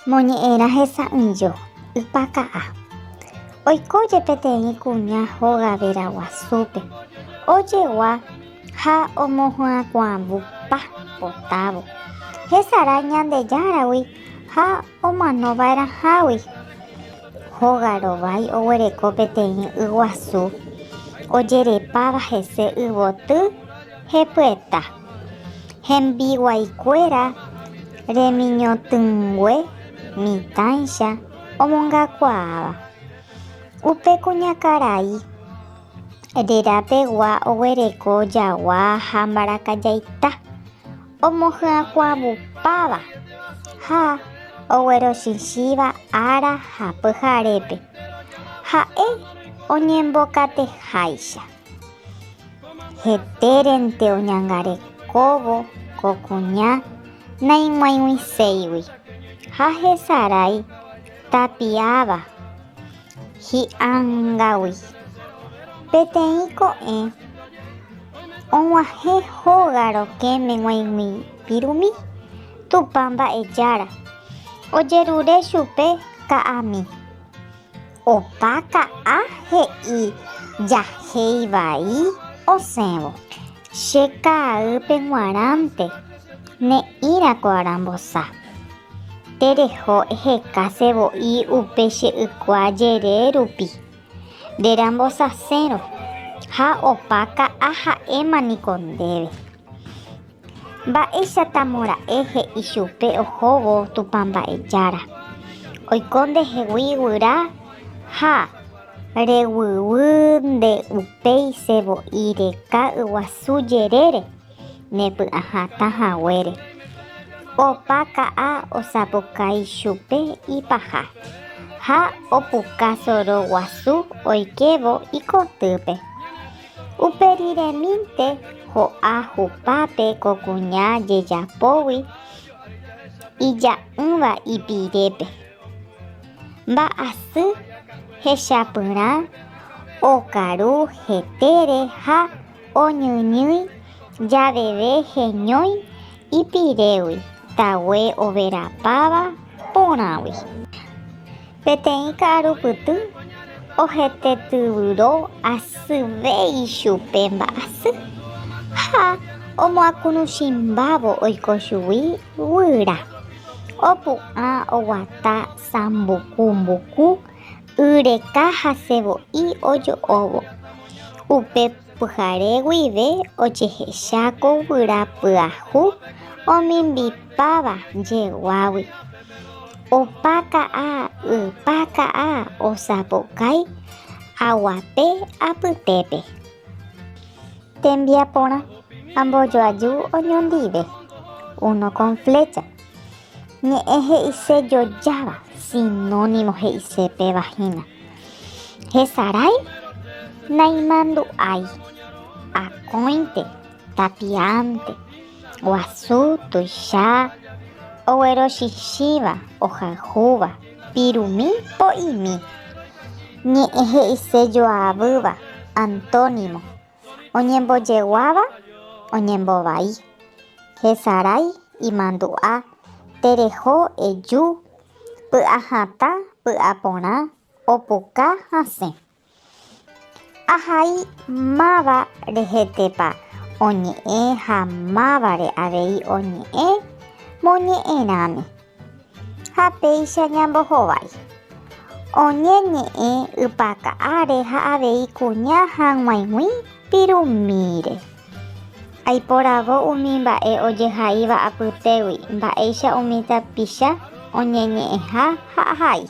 Moñe'ẽrã hesa'ỹijo, ypaka'a. Oiko jepeteĩ kuña hóga vera guasúpe, ojegua ha omohyakuãvu pa potávo. Hesarái Ñandejáragui ha omano va'erãhágui. Hóga rovái oguereko peteĩ yguasu ojerepáva hese yvoty. Hepyeta. Hembiguaikuéra remiñotỹngue mitãicha omongakuaáva. Upe kuñakarai rerapegua oguereko jagua ha mbarakajaita, omohyakuãvupáva ha oguerochichĩva ára ha pyharépe, ha'e oñembokateháicha. Hetérente oñangarekóvo ko kuña naig̃uaig̃uiséigui ha hesarái tapiáva hi'angágui. Peteĩ ko'ẽ og̃uahẽ hóga rokẽme g̃uaig̃uipirumi Tupã Mba'ejára, ojerure chupe ka'ami. Opa ka'a he'i jahei vai osẽvo. Che ka'aýpe g̃uarãnte ne'ĩra ko arambosa. Tereho eheka se voi upe che ykua jere rupi, rerambosasérõ ha opa ka'a ha'éma niko ndéve. Mba'éichatamo ra'e he'i chupe ohóvo Tupã Mba'ejára, oiko ndehegui guyra ha reguýgui nde upéi che vo'i reka yguasu jerére nepy'ahatã haguére. Opa ka'a osapukái chupe ipaha ha opuka soro guasu oikévo ikotýpe. Upe riremínte ho'a hupápe ko kuña jejapógui ija'ỹva ipirépe. Mba'asy hechapyrã okaru hetére ha oñyñýi javeve heñói ipirégui tague overapáva porãgui. Peteĩ ka'arupyty ohetetyvyro asyve ichupe mba'asy ha omoakũruchimbávo oiko chugui guyra. Opu'ã oguata sambuku mbuku yreka ha sevo'i ojo'óvo. Upe Pyhare guive ojehecha ko guyra pyahu omimbipáva jeguágui. Opa ka'a ypa ka'a osapukái aguape apytépe. Tembiaporã, ambojoaju oñondive, uno con flecha. Ñe'ẽ he'ise jojáva, sinónimo he'ise pe vagina. Hesarái, naimandu'ái, akóinte, tapiánte, guasu, tuicha, oguerochichĩva, ohayhúva, pirumi, po'imi. Ñe'ẽ he'ise joavýva, antónimo. Oñembojeguáva oñembovái. Hesarái imandu'a, tereho eju, py'ahatã py'aporã, opuka hasẽ. Ahai máva rehetépa oñe'ẽ ha mávare avei oñe'ẽ moñe'ẽrãme. Ha péicha ñambohovái. Oñeñe'ẽ ypaka áre ha avei kuña hag̃uaig̃ui pirumíre. Aiporavo umi mba'e ojehaíva apytégui mba'éicha umi tapicha oñeñe'ẽha ha ahai.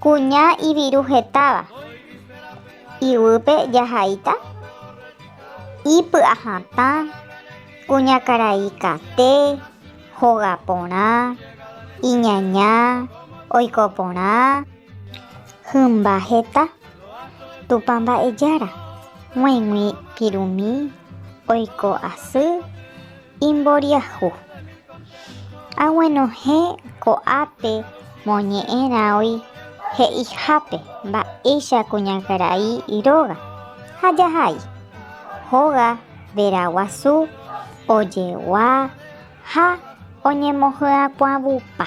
Kuña iviru hetáva. Iguýpe jahaíta ipy'ahatã Kuñakaraikate, hoga porã, iñaña, oiko porã, hymba heta, Tupã mba'ejára, g̃uaig̃ui pirumi, oiko asy, imboriahu. Aguenohẽ ko'ápe moñe'ẽrãói he'ihápe mba'éicha kuñakarai róga ha jahai, hoga, Veraguasu ojegua ha oñemohyakuãvupa.